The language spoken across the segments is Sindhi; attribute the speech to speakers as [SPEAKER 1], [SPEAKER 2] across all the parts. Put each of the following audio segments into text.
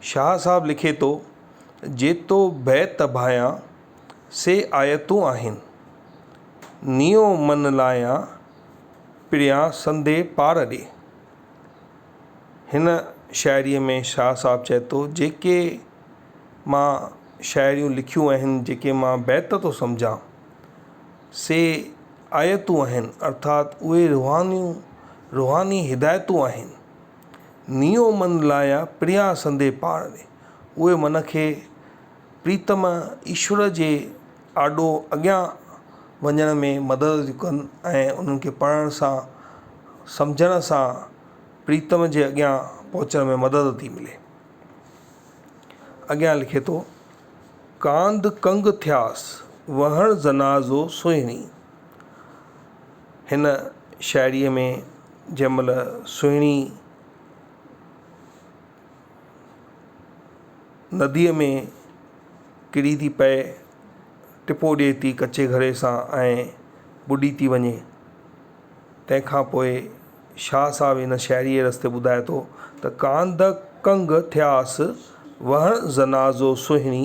[SPEAKER 1] شاهه صاحب لکي ٿو، جيتو بيت ڀايان، سي آيتون آهن. نيو من لايان، پريان سندي پار ڏي. هن شاعريء ۾ شاهه صاحب چئي ٿو، جيڪي مان شاعريون لکيون آهن، جيڪي مان بيت ٿو سمجهان، سي آيتون آهن، ارٿات اهي روحانيون روحاني هدايتون آهن. نيو من لايا پريا سندي پاڻ ۾، اهي من کي پريتم ايشور جي آڏو اڳيان وڃڻ ۾ مدد ٿيون ڪن ۽ انهن کي پڙهڻ سان سمجهڻ سان پريتم جي اڳيان پهچڻ ۾ مدد ٿي ملي. اڳيان لکي ٿو، ڪانڌ ڪنگ ٿياس، وهڻ زنازو سهڻي. هن شاعريء ۾ جنهن مهل سهڻي نديء ۾ ڪري ٿي پئي، ٽپو ڏئي ٿي ڪچي گهڙي سان ۽ ٻڏي ٿي وڃي، تنهن کان پوء شاهه صاحب هن شاعريء رستي ٻڌائي ٿو ته ڪانڌ ڪنگ ٿياس وهڻ زنازو سهڻي،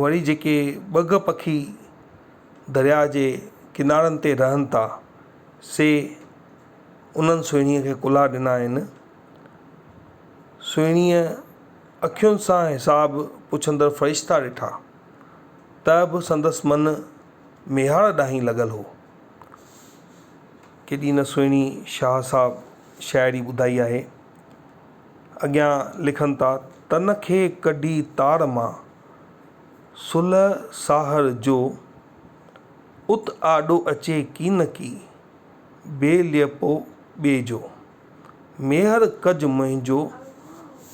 [SPEAKER 1] وري جيڪي ٻگهه پکي درياء جي ڪنارن تي رهن ٿا سي انهن سهڻيء کي ڪلها ڏنا آهن. سهڻيء اکين سان حساب پڇندڙ فرشتا ڏٺا ته به سندس من ميهاڙ ڏانهن لڳل هو. ڪيڏي نه سهڻي شاهه صاحب شاعري ٻڌائي آهي. اڳيان لکن ٿا، تن کي ڪڍي تار مان، سلهه ساهر جو، ات آڏو اچي ڪين ڪي، بي ليئپو ٻي جو. ميهر ڪج منهنجو،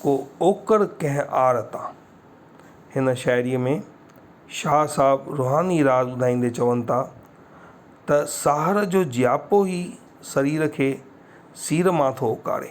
[SPEAKER 1] ڪو اوڪر ڪنهن آر تان. هن شاعريء ۾ شاهه صاحب روحاني راز ٻڌائيندي چون ٿا ته ساهر جو جياپو ئي سرير کي سير مان ٿو اوڪاڙي.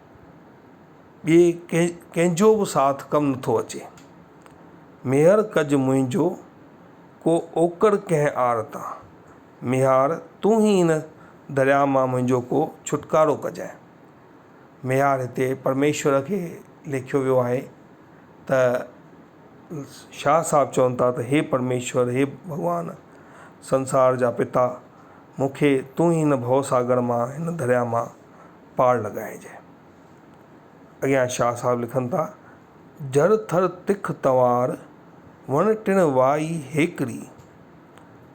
[SPEAKER 1] ٻئي ڪنهن جو به ساٿ ڪم نٿو اچي. ميهر ڪج منهنجو ڪو اوڪڙ ڪنهن آر تان. ميهار تون ئي هن درياء مان منهنجو ڪو ڇوٽڪارو ڪجانء. ميهار هتي پرميشور کي ليکيو ويو آهي ته شاهه صاحب چون ٿا ته هي پرميشور هي ڀڳوان سنسار جا پتا مون کي تون ئي هن ڀوساگر مان هن درياء مان پاڙ لڳائجي. اڳيان شاهه صاحب لکن ٿا، جر ٿر تک تنوار، وڻ ٽڻ وائي هيڪڙي،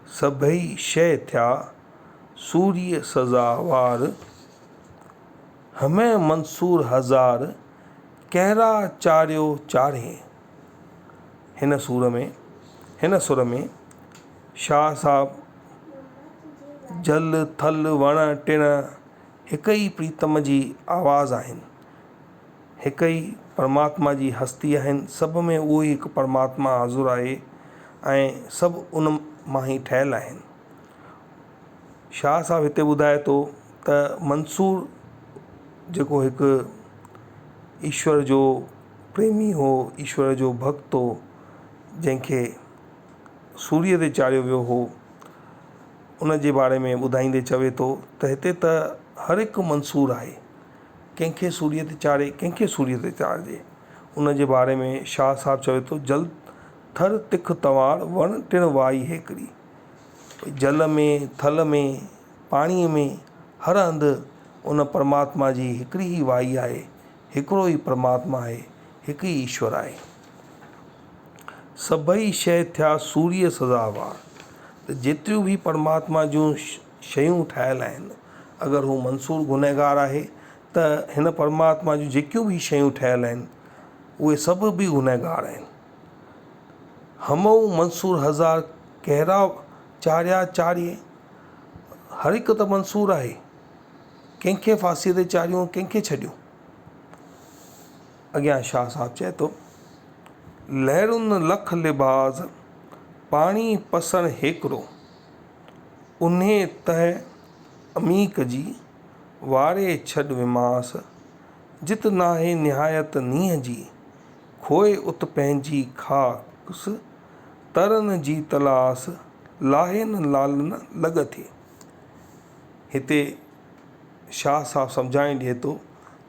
[SPEAKER 1] سڀئي شيء ٿيا، سوريء سزا وار، همه منصور هزار، ڪهرا چاريو چارهين. هن سور ۾، هن سر ۾، شاهه صاحب جل ٿل وڻ ٽڻ هڪ ئي پريتم جي آواز آهن هڪ ئي پرماتما جي هستي آهن سڀ ۾ اهو ئي هڪ پرماتما حاضر آهي ۽ سڀ ان مان ئي ٺهيل آهن شاهه صاحب هتي ٻڌائي ٿو ته منصور جيڪو هڪ ايشور جو پريمي هو ايشور جو ڀڳت هو جنهن کي سوريء تي چاڙهيو ويو هو، ان جي باري ۾ ٻڌائيندي چوي ٿو ته هتي ته هر هڪ منصور آهي، ڪنهن کي سوريء تي چاڙهي، ڪنهن کي سوريء تي چاڙهجي. ان جي باري ۾ شاهه صاحب چوي ٿو، جل ٿر تک تنوار، وڻ ٽڻ وائي هيڪڙي. ڀئي جل ۾، ٿل ۾، پاڻيء ۾ هر هنڌ ان پرماتما جي هڪڙي ئي وائي آهي. هڪڙو ئي پرماتما آهي، هڪ ئي ايشور آهي. سڀئي شيء ٿيا سوريء سزاوار ته جيتريون به پرماتما جون شيون ٺاهيل آهن، اگر هو منصور گنهگار آهي ته هن پرماتما جون جيڪيون به شيون ٺهيل آهن، اهي سڀ به گنهگار آهن. همئون منصور هزار ڪهڙا چاريا چاريين، هر هڪ ته منصور آهي. ڪنهن کي ڦاسيء تي چاڙهيون، ڪنهن کي ڇڏيون. اڳيان شاهه صاحب چئي ٿو. لهرن لک لباس، پاڻي پسڻ هيڪرو. اونهي تهه عميق جي، واري ڇڏ وماس. جت ناهي نهايت نينهن جي، کوء ات پنهنجي خاڪس. ترن جي تلاس، لاهين لعلن لڳ ٿي. هتي شاهه صاحب سمجهائي ڏئي ٿو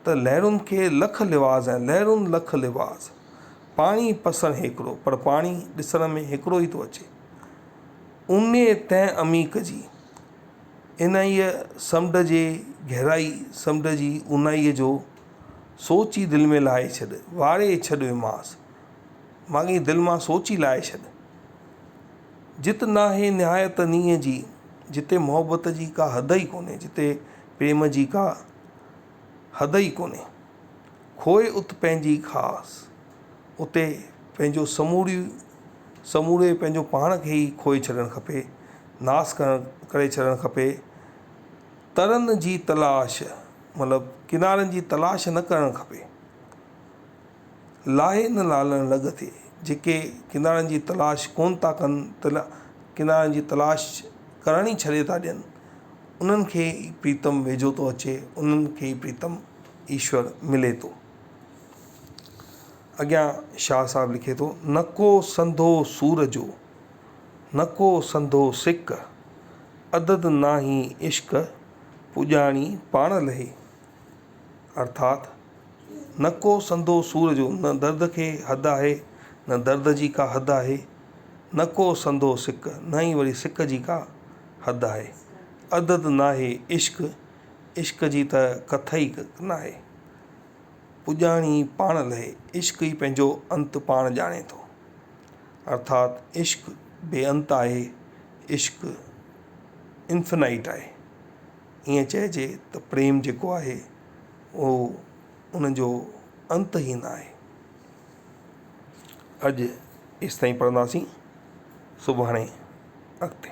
[SPEAKER 1] ته لهرن کي لک لباس آهن، لهرون لک لباس، پاڻي پسڻ هيڪڙو، پر پاڻي ڏسڻ ۾ هڪڙو ئي ٿو اچي. اونهي تهه عميق جي، انهيء سمنڊ جي گهرائي، سمنڊ جي اونهائيء جو سوچ ئي دل ۾ لاهي ڇڏ، واري ڇڏيومانس. ماڳهين دل مان سوچي لاهي ڇڏ. جت ناهي نهايت نينهن جي، جتي محبت جي ڪا حد ئي ڪونهي، جتي پريم جي ڪا حد ئي ڪونهي. کوء ات پنهنجي خاص، اتي پنهنجو سموري سموري پنهنجو پاڻ کي ئي کوهي ڇڏڻ کپي، ناس ڪري ڇڏڻ کپي. ترن جي تلاش مطلب ڪنارن جي تلاش نه ڪرڻ کپي. لاهي نه لالڻ لڳ ٿئي. جيڪي ڪنارن جي تلاش ڪونه ٿا ڪن تلا ڪنارن جي تلاش ڪرڻ ئي ڇڏي ٿا ڏين انهن کي ئي پريتم ويجهو ٿو اچي انهن کي ئي پريتم ايشور ملي ٿو. اڳيان شاهه صاحب لکي ٿو. نڪو سنڌو سور جو، نڪو سنڌو سڪ، عدد ناهي عشق پڄاڻي پاڻ لهي. ارٿات نه ڪو سندو سور جو نه درد کي حد آهي نه درد جي ڪا حد آهي نه ڪو سندو سڪ نه ئي وري سڪ جي ڪا حد آهي عدد ناهي عشق عشق جي ته ڪٿ ئي ناهي پڄاڻي پاڻ لهي عشق ئي پنهنجو انت پاڻ ڄاڻي ٿو ارٿات عشق بي انت آهي عشق انفنائٽ آهي ائين چئجي ته پريم جيڪو آهي اهو ان جو انت ئي نه آهي اڄ ايستائين پڙهنداسين سڀاڻي اڳتي